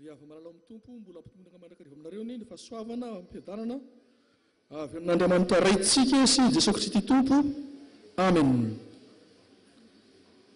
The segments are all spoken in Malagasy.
Ry Ava Malala ao amin'ny Tompo, mbola hampitomboina mandrakariva aminareo ny fahasoavana amim-piadanana avy amin'Andriamanitra Raintsika sy i Jesoa Kristy Tompo. Amen.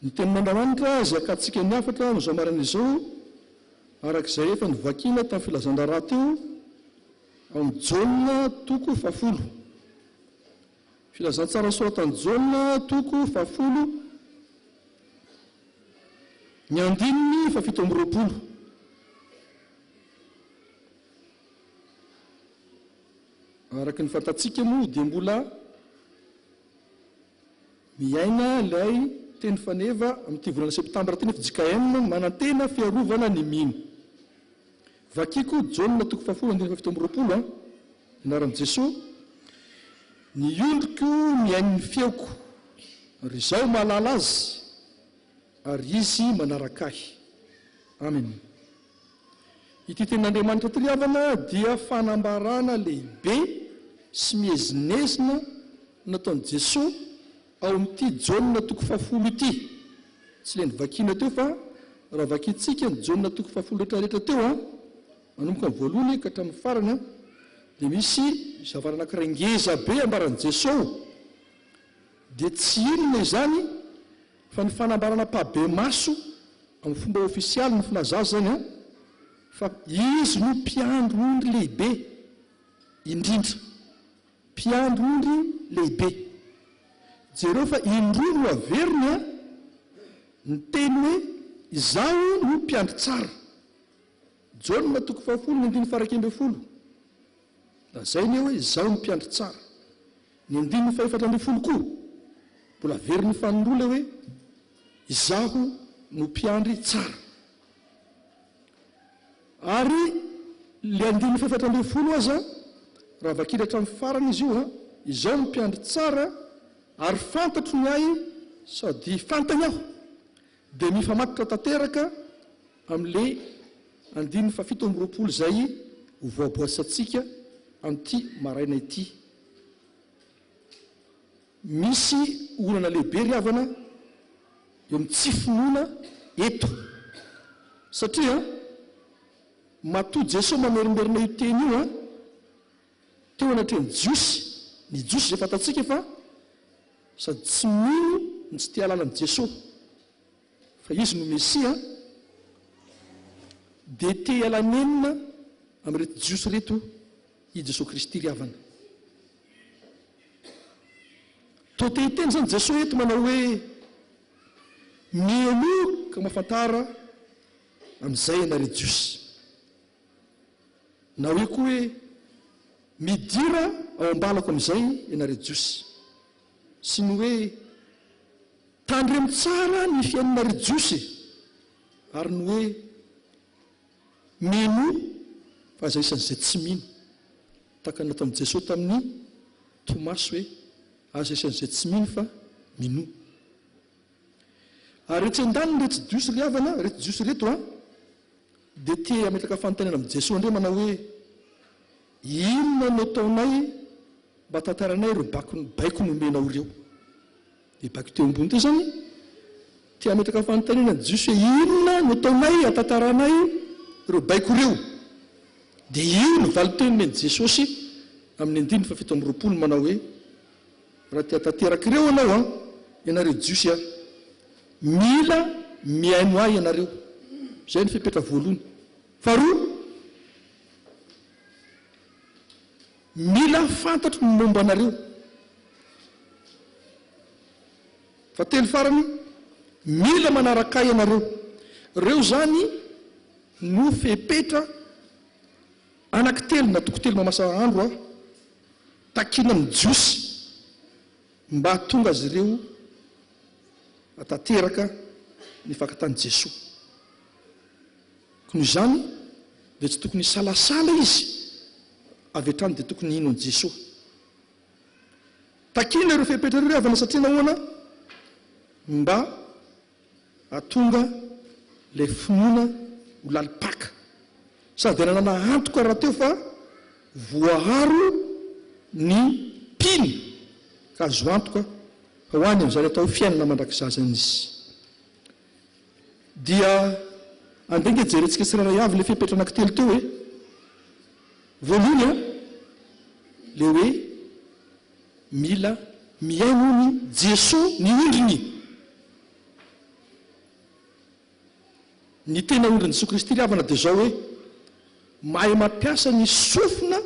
Ny Tenin'Andriamanitra izay akatsika ny hafatra amin'izao maraina izao, araka izay efa novakina tamin'ny filazan-draharaha teo, ao amin'ny Jaona toko fahafolo. Filazantsara soratan'i Jaona, toko fahafolo, ny andininy fahafito amby roapolo. Araka ny fantatsika moa dia mbola miaina ilay teny faneva amin'ity volana septambra ity nefa JKM manantena fiarovana ny mino. Vakiko Jaona toko fahafolo andininy fahafito amby roapolo a Anaran'i Jesoa Ny ondriko mihaino ny feoko, ary izaho mahalala azy, ary izy manaraka ahy. Amen. Ity tenin'Andriamanitra ity ry havana dia fanambarana lehibe sy miezinezina nataon'i Jesoa Ao amin'ity Jaona toko fahafolo ity, tsy ilay novakiana teo fa raha vakintsika ny Jaona toko fahafolo rehetrarehetra teo, manomboka amin'ny voalohany ka hatramin'ny farany, dia misy zavatra anankiray ngeza be ambaran'i Jesosy, dia tsy inona izany fa ny fanambarana am-pahabemaso amin'ny fomba ofisialy ny filaza azy izany, fa Izy no Mpiandry ondry lehibe indrindra. Mpiandry ondry lehibe. Jereo fa indroa no averiny a! Ny teny hoe Izaho no mpiandry tsara. Jaona toko fahafolo ny andininy faharaika ambin'ny folo. Lazainy eo hoe Izaho no mpiandry tsara. Ny andininy fahefatra ambin'ny folo koa, mbola averin'ny faninroa ilay hoe Izaho no mpiandry tsara. Ary le andininy fahaefatra ambin'ny folo aza raha vakina hatramin'ny farany izy io a, izao no mpiandry tsara ary fantatro ny ahy sady fantany aho, dia mifamatotra tanteraka amin'le andininy fahafito amby roapolo izay ho voaboasantsika amin'ity maraina ity. Misy olana lehibe ry havana eo amin'ny tsy finoana eto satria matoa Jesoa mamerimberina io teny io an, teo anatrehan'ny Jiosy, ny Jiosy izay fantatsika fa sady tsy mino no tsy te hahalala an'i Jesoa fa Izy no Mesia dia te hiala nenina amin'ireto Jiosy ireto I Jesoa Kristy ry havana. Toa te hiteny izany Jesoa eto manao hoe, Mihemoa ka mafantara an'izay ianareo Jiosy. Na hoe koa hoe, Midira ao am-balako amin'izay ianareo Jiosy. Sy ny hoe, Tandremo tsara ny fiainanareo Jiosy e! ary ny hoe, Mino fa izay isan'ny izay tsy mino. Tahaka ny nataon'i Jesoa tamin'i Tomasy hoe, Aza isan'ny izay tsy mino fa minoa. Ary etsy an-daniny ireto Jiosy ry havana, ireto Jiosy ireto an, dia te hametraka fanontaniana amin'i Jesoa indray manao hoe, Inona no ataonay mba hatantarainay ireo baiko nomena ao ireo? Dia baiko teo ambony teo izany, te hametraka fanontaniana ny Jiosy hoe, Inona no ataonay hahatantaranay ireo baiko ireo? Dia io no valin-teniny an'i Jesosy amin'ny andininy fahafito amby roapolo manao hoe, Raha te hahatanteraka ireo anao an, ianareo Jiosy an, mila mihaino ahy ianareo. Izay ny fepetra voalohany. Faharoa, Mila fantatro ny momba anareo. Fahatelo farany, mila manaraka ahy ianareo. Ireo izany no fepetra anaky telo na toko telo mamasa andro aho takiana amin'ny Jiosy mba hahatonga azy ireo hatateraka ny fakantan'i Jesoa. Koa noho izany dia tsy tokony hisalasala izy, avy hatrany dia tokony hino an'i Jesoa. Takiana ireo fepetra ireo ry havana satria nahoana? Mba hahatonga ilay finoana ho lalim-paka. Sady hananana antoka rahateo fa voaaro ny mpino ka azo antoka fa ho any amin'izany atao hoe fiainana mandrakizazany izy. Dia andeha ange jerentsika tsirairay avy ilay fepetra anankitelo teo e! Voalohany an, ilay hoe mila mihaino hono i Jesoa ny ondriny. Ny tena ondrin'i Jesoa Kristy ry havana dia izao hoe mahay mampiasa ny sofina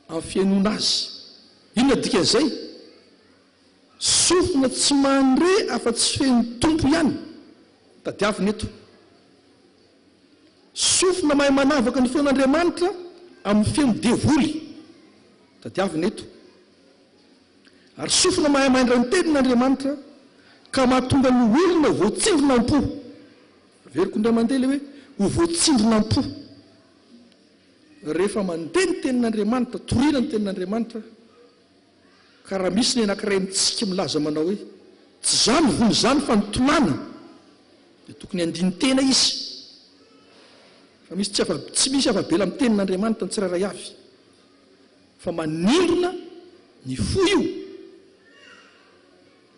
amin'ny fihainoana Azy. Inona dikan'izay? Sofina tsy mandre afa tsy fehiny Tompo ihany tadiavina eto. Sofina mahay manavaka ny feon' Andriamanitra amin'ny feon'ny devoly tadiavina eto. Ary sofina mahay maindra ny tenin' Andriamanitra ka mahatonga ny olona ho voatsindrona am-po. Averiko indray mandeha ilay hoe ho voatsindrona am-po. Rehefa mandeha ny tenin' Andriamanitra, toriana ny tenin' Andriamanitra, Ka raha misy ny anankiray amintsika milaza manao hoe, Tsy izaho nivono izany fa ny tolàna, dia tokony handini-tena izy fa misy tsy afa, tsy misy afa-bela amin'ny Tenin'Andriamanitra ny tsirairay avy, fa manindrona ny fo io.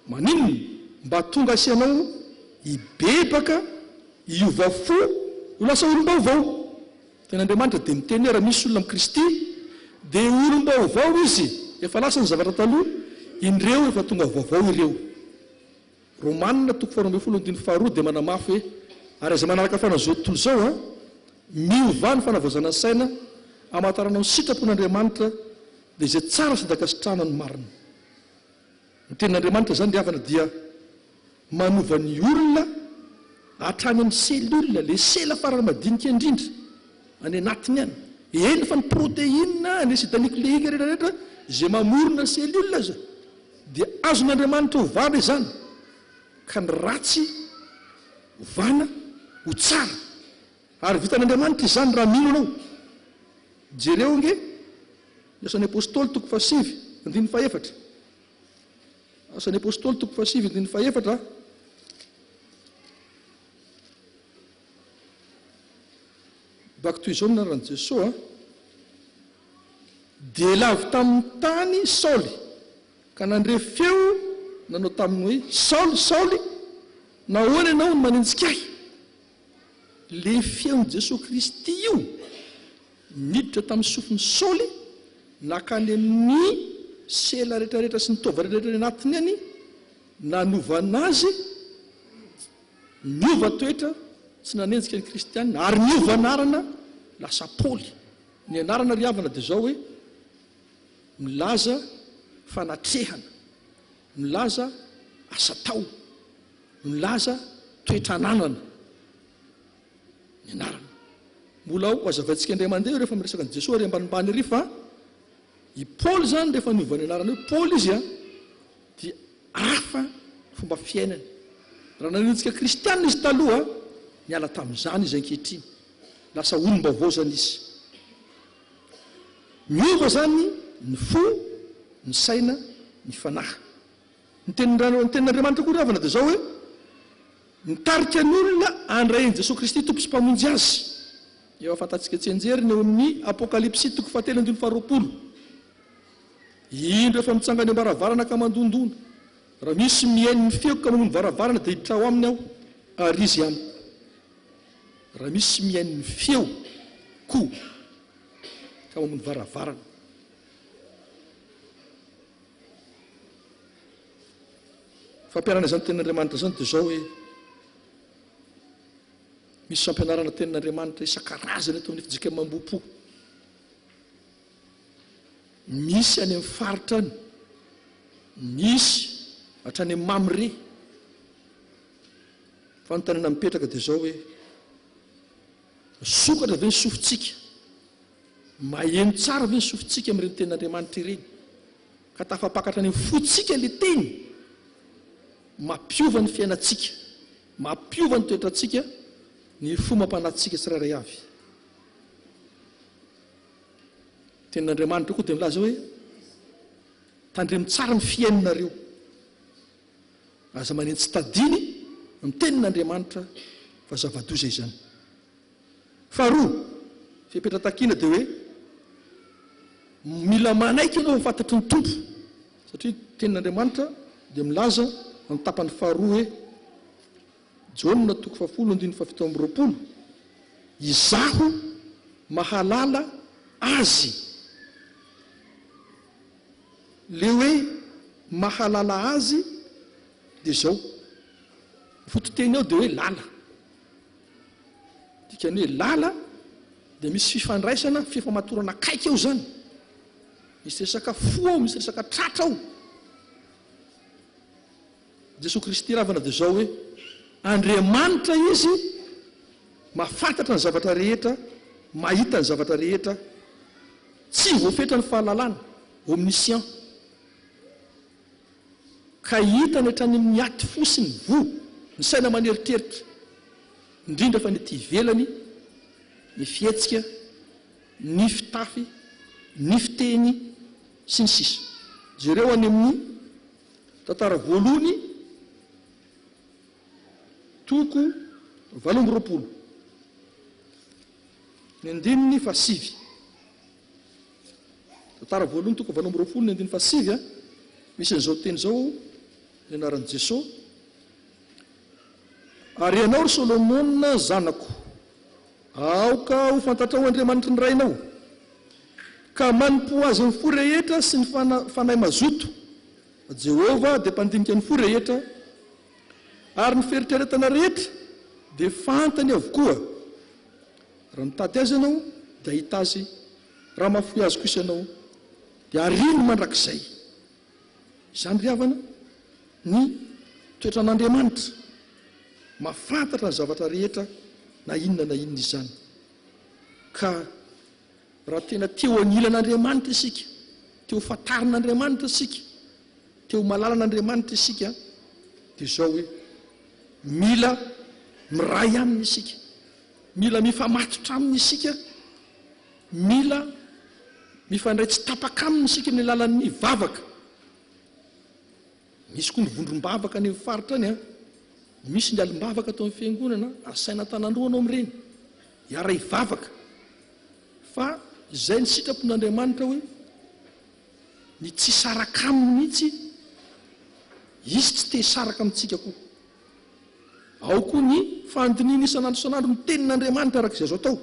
Maninona mba tonga asianao hibebaka, hiova fo, ho lasa olom-baovao? Teny Andriamanitra dia miteny hoe raha misy olona amin'i Kristy dia olom-baovao izy, efa lasa ny zavatra taloha, indreo efa tonga vaovao ireo. Romana toko faharoa ambin'ny folo andininy faharoa dia manamafy hoe ary izay manaraka fanahy izao tontolo izao a, miovà ny fanavaozana saina, hamantaranao ny sitrapon' Andriamanitra dia izay tsara sy andakasitrahana ny marina. Ny tenin'Andriamanitra izany ry havana dia manova ny olona hatrany amin'ny cellule, ilay sela farany madinika indrindra any anatiny any. Eny fa ny protéine, ny acide nucléique rehetra rehetra izay mamorona cellule aza dia azon'Andriamanitra ovana izany ka ny ratsy ovana ho tsara. Ary vitan'Andriamanitra izany raha mino anao. Jereo ange Ny Asan'ny Apostoly toko fahasivy andininy fahefatra Asan'ny Apostoly toko fahasivy andininy fahefatra Bak Toy izao no anaran'i Jesoa a Dia lavo tamin'ny tany Saoly ka nandre feo nanao taminy hoe Saoly, Saoly, nahoana ianao no manenjika ahy? Le feon'i Jesoa Kristy io niditra tamin'ny sofin'i Saoly nakany amin'ny sela retraretra sy ny taova retraretra any anatiny any nanovana azy niova toetra tsy nanenjika ny kristianina ary niova anarana lasa Paoly ny anarana ry havana dia zao hoe milaza fanatrehana Milaza asa atao, milaza toetra ananana ny anarana. Mbola ho hazavaintsika indray mandeha io rehefa miresaka an'i Jesoa ary ambanimbany ery fa i Paoly izany rehefa niova ny anarana hoe Paoly izy dia hafa ny fomba fiainany. Raha nanaintsika kristiana izy taloha, niala tamin'izany izy ankehitriny. Lasa olom-baovao izany izy. Miova izany ny fo, ny saina, ny fanahy. Ny tenin'Andriamanitra koa ry havana dia izao hoe, Mitarika ny olona handray an'i Jesoa Kristy Tompo sy Mpamonjy azy. Efa fantatsika tsianjery ny ao amin'ny Apokalypsy toko fahatelo andininy faharoapolo. Indro efa mitsangana eo am-baravarana ka mandondona. Raha misy mihaino ny feoko ka mamono varavarana dia hiditra ao aminy aho ary izy amiko. Raha misy mihaino ny feo ko tao amin'ny varavarana. Fampianarana izany tenin'Andriamanitra izany dia izao hoe misy fampianarana tenin'Andriamanitra isan-karazany eto amin'ny FJKM Ambohipo. Misy any amin'ny faritra any, misy hatrany amin'ny Mamre. Fanontaniana mipetraka dia izao hoe, misokatra ve ny sofintsika, maheno tsara ve ny sofintsika amin'ireny tenin'Andriamanitra ireny, ka tafapaka hatrany amin'ny fontsika ilay teny? Mampiova ny fiainantsika, mampiova ny toetrantsika ny fo mampanantsika tsirairay avy. Ny tenin'Andriamanitra koa dia milaza hoe, tandremo tsara ny fihainonareo. Aza manentsy tadiny ny tenin'Andriamanitra fa zava-doza izany. Faharoa, fepetra takiana dia hoe mila manaiky ianao ho fantatry ny Tompo satria ny tenin'Andriamanitra dia milaza amin'ny tapany faharoa hoe, Jaona toko fahafolo andininy fahafito amby roapolo, Izaho mahalala azy. le hoe mahalala azy de zao fototeny ao de hoe lala dikany hoe lala de misy fifandraisana fifamatorana akaiky ao zany misy resaka fo ao misy resaka tratra ao Jesoa Kristy ravana dia izao hoe, Andriamanitra Izy, mahafantatra ny zavatra rehetra, mahita ny zavatra rehetra, tsy voafetra ny fahalalany, omniscient, ka hitany hatrany amin'ny aty fo sy ny voa, ny saina aman'eritreritra, indrindra fa ny aty ivelany, ny fihetsika, ny fitafy, ny fiteny, sy ny sisa. Jereo any amin'ny. Tantara voalohany, toko valo amby roapolo, ny andininy fahasivy. Tantara voalohany, toko valo amby roapolo, ny andininy fahasivy a, misy an'izao teny izao ny anaran'i Jesoa, Ary ianao, ry Solomona zanako, Aoka ho fantatrao Andriamanitry ny rainao, ka manompoa Azy amin'ny fo rehetra sy ny fanahy mazoto. Jehovah dia mpandinika ny fo rehetra, ary ny fieritreretana rehetra dia fantany avokoa. Raha mitady Azy ianao, dia hahita Azy, raha mahafoy Azy kosa ianao, dia ariny mandrakizay. Izany ry havana, ny toetran'Andriamanitra mahafantatra ny zavatra rehetra na inona na inona izany. Ka raha tena te ho anilan'Andriamanitra isika, te ho fantarin'Andriamanitra isika, te ho malala an'Andriamanitra isika dia izao hoe, mila miray aminy isika, mila mifamatotra aminy isika Mila mifandray tsy tapaka aminy isika amin'ny alalan'ny vavaka. Misy koa ny vondrom-bavaka any amin'ny faritra any. Misy ny alim-bavaka ato amin'ny fiangonana, asaina an-tananoroa anao mireny, hiara-hivavaka. Fa izay ny sitrapon'Andriamanitra hoe ny tsy saraka aminy mihitsy Izy tsy te hisaraka amintsika koa. Ao koa ny fandinihina isan'andro isan'andro ny tenin'Andriamanitra araka izay azo atao.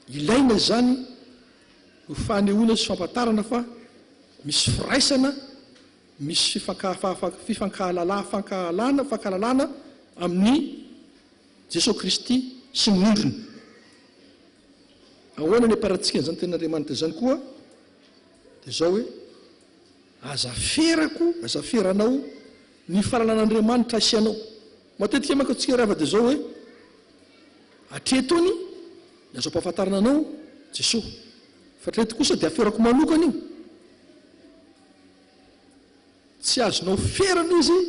Ilaina izany ho fanehoana sy fampatarana fa misy firaisana, misy fifankahalalana amin'i Jesoa Kristy sy ny ondriny. Ahoana ny ampiharantsika an'izany Tenin'Andriamanitra izany koa? Dia izao hoe, Aza ferako, aza feranao ny fahalalan'Andriamanitra asianao. Matetika manko atsika rava de zao hoe atreto any ny azo ampahafantarana anao Jesoa fa atreto kosa de aferako manokana io. Tsy azonao ferana izy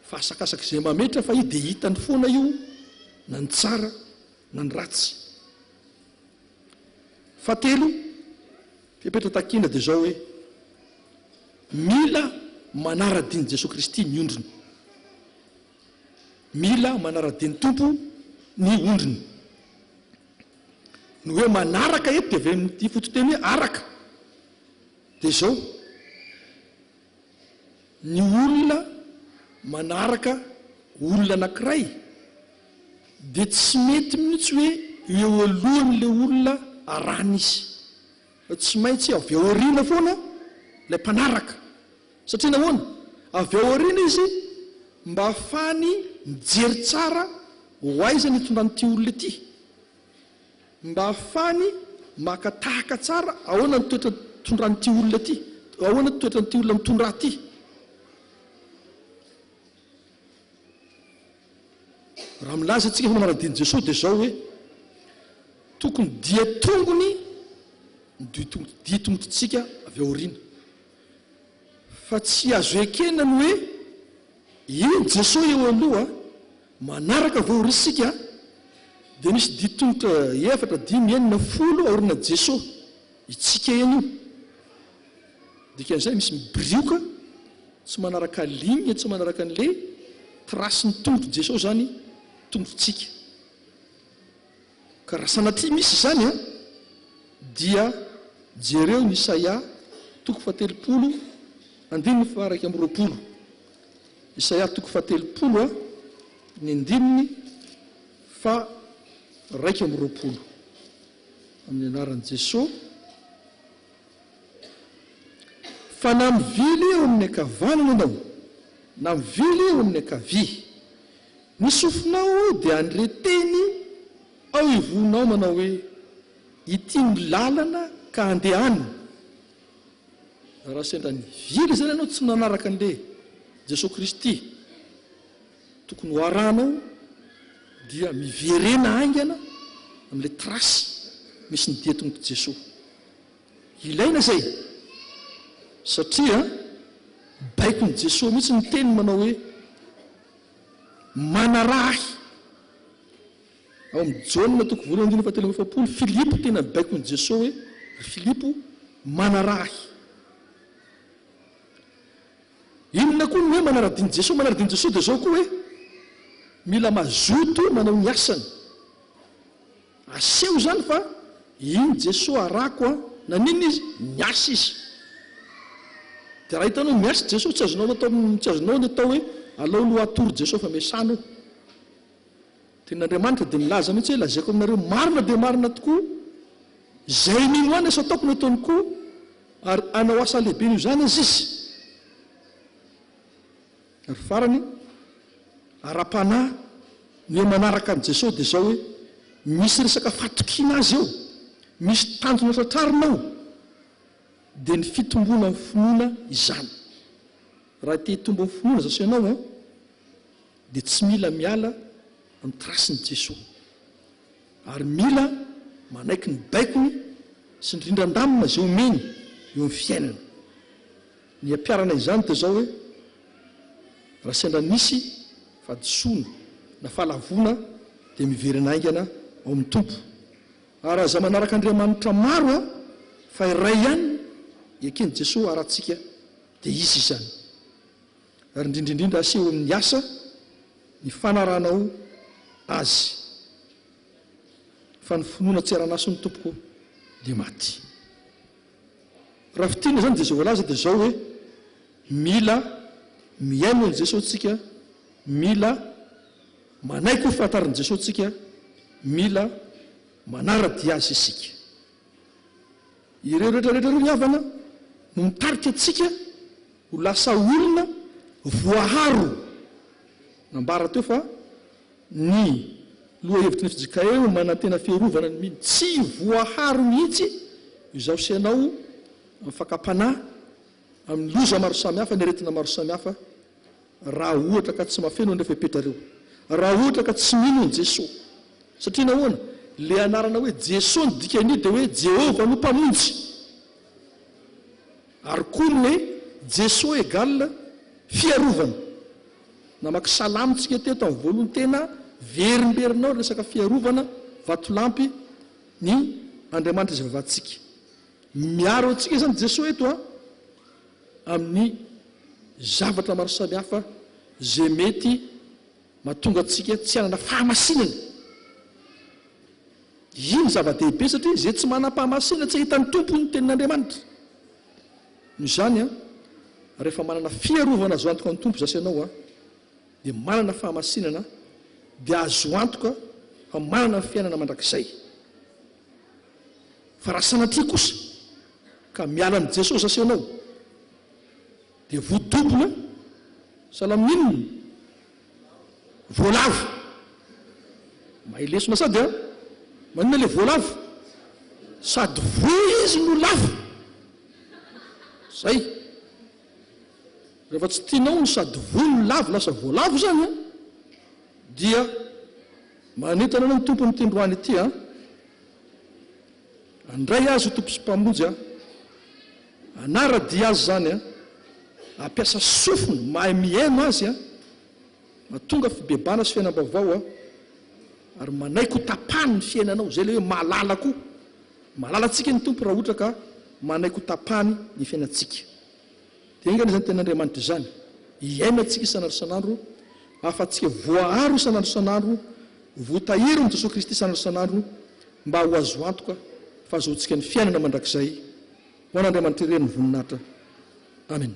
fa asakasaka izay mametra fa i de hitany foana io na ny tsara na ny ratsy. Fahatelo. Fepetra takina dia izao hoe, Mila manara-dian'i Jesoa Kristy ny ondriny. Mila manara-dian'ny Tompo ny ondriny. Ny hoe manaraka eto dia avy amin'ity fototeny hoe araka. Dia izao. ny olona manaraka olona anankiray dia tsy mety mihitsy hoe eo alohan'ilay olona arahina izy fa tsy maintsy avy ao aoriana foana ilay mpanaraka satria nahoana? avy ao aoriana izy mba hahafahany mijery tsara ho aiza ny hitondran'ity olona ity Mba afahany maka tahaka tsara ahoana ny toetra tondran'ity olona ity, ahoana ny toetran'ity olona mitondrà ity. Raha milaza antsika fa manadino Jesosy dia izao hoe, tokony dia tongony ny dia tongotontsika avy aoriana. Fa tsy azo ekena ny hoe, eny Jesosy eo aloha, Manaraka vao risika dia misy didy tongotra efatra, dimy, enina, folo aorina Jeso itsika eny io. Dikan'izay misy mibrioka tsy manaraka ligne, tsy manaraka an'le trace ny tongotro Jeso izany tongotritsika. Ka raha sanatria misy izany an, dia jereo ny Isaia toko fahatelopolo andininy faha iraika amby roapolo. Isaia toko fahatelopolo a ny ndininy faharaika amby roapolo Amin'ny anaran'i Jesoa fa na mivily eo amin'ny ankavanana ianao na mivily eo amin'ny ankavia ny sofinao dia handre teny ao ivohonao manao hoe ity no lalana ka andehanina Raha sendra nivily izany ianao tsy nanaraka an'le Jesoa Kristy tokony ho arahanao dia miverena haingana amin'le trace misy ny dia tongotr'i Jesoa. Ilaina izay satria baikon'i Jesoa mihitsy ny teniny manao hoe manaraha ahy. Ao amin'ny Jaona toko voalohany andininy fahatelo amby efapolo, Filipo tena baikon'i Jeso hoe, Ry Filipo, manaraha Ahy. Inona koa ny hoe manara-dian'i Jeso? Manara-dian'i Jeso dia izao koa hoe, mila mazoto manao ny asany. Aseho izany fa iny Jeso arako an, naninona Izy? Niasa Izy. Dia raha hitanao miasa Jeso, tsy azonao atao, tsy azonao ny atao hoe, alao aloha atoro Jeso fa miasana eo. Tenin'Andriamanitra dia nilaza mihitsy hoe, Lazaiko aminareo marina dia marina tokoa, Izay mino Ahy ny asa ataoko no ataony koa, ary hanao asa lehibe noho izany aza izy. Ary farany, ara-panahy, ny hoe manaraka an'i Jesosy dia izao hoe, misy resaka fatokiana Azy eo, misy tanjona tratrarina ao, dia ny fitomboana amin'ny finoana izany. Raha te-hitombo amin'ny finoana zaho sy ianao an, dia tsy mila miala amin'ny trace-n'i Jesoa ary mila manaiky ny baikony sy ny rindran-damina izay omeny eo amin'ny fiainana. Ny ampiharana izany dia izao hoe, raha sendra nisy fahadisoana na fahalavoana dia miverina haingana ao amin'ny Tompo ary aza manaraka andriamanitra maro an, fa iray ihany eken'i Jesoa haratsika dia Izy izany. ary indrindra indrindra aseho amin'ny asa ny fanaranao Azy, fa ny finoana tsy ara-naso ny tompoko dia maty. Raha fintinina izany dia izay voalaza dia izao hoe, mila mihaino an'i Jesoa tsika, mila manaiky ho fantarin'i Jesoa tsika, mila manara-dia Azy isika. Ireo rehetra rehetra ireo ry havana no mitarika antsika ho lasa olona voaharo. Nambara teo fa ny lohahevitry ny fjkm manantena fiarovana ny mino tsy voaharo mihitsy izaho sy ianao amin'ny fakam-panahy, amin'ny loza maro samihafa, ny aretina maro samihafa Raha ohatra ka tsy mahafeno anefa e Petra reo. Raha ohatra ka tsy mino an'i Jesoa. Satria nahoana? Le anarana hoe Jesoa ny dikan'io dia hoe Jehovah no Mpamonjy. Ary koa ny hoe Jesoa égale fiarovana. Namaky salamo tsika teo tamin'ny voalohany tena verimberina ao ny resaka fiarovana, vatolampy ny Andriamanitra izay vavantsika. Miaro antsika izany Jesoa eto an. amin'ny zavatra maro samihafa izay mety mahatonga antsika tsy hanana fahamasinana. Io no zava-dehibe satria izay tsy manam-pahamasinana tsy hahita ny Tompo hoy ny Tenin'Andriamanitra. Noho izany, rehefa manana fiarovana azo antoka ny Tompo zasy ianao dia manana fahamasinana dia azo antoka fa manana ny fiainana mandrakizay. Fa raha sanatria kosa, ka miala ny Jesosy asehonao dia voadobona salamin'inona? voalavo mahay lesona sady a! maninona le voalavo? sady voa izy no lavo zay rehefa tsy tianao ny sady voa no lavo lasa voalavo zany a dia manentana anao ny tompo amin'ity ndroany ity a Andray Azy ho Tompo sy Mpamonjy aho. Hanara-dia Azy izany an. Hampiasa sofina mahay mihaino Azy an. Mahatonga fibebahana sy fiainam-baovao an. Ary manaiky ho tapahany ny fiainanao. Izay ilay hoe mahalala koa. Mahalala antsika ny Tompo raha ohatra ka manaiky ho tapahany ny fiainantsika. Dia enga anie izany Tenin'Andriamanitra izany hiainantsika isan'andro isan'andro, hahafahantsika voaaro isan'andro isan'andro, votaherin'i Jesoa Kristy isan'andro isan'andro, mba ho azo antoka fahazoantsika ny fiainana mandrakizay, ho an'Andriamanitra irery ny voninahitra. Amena.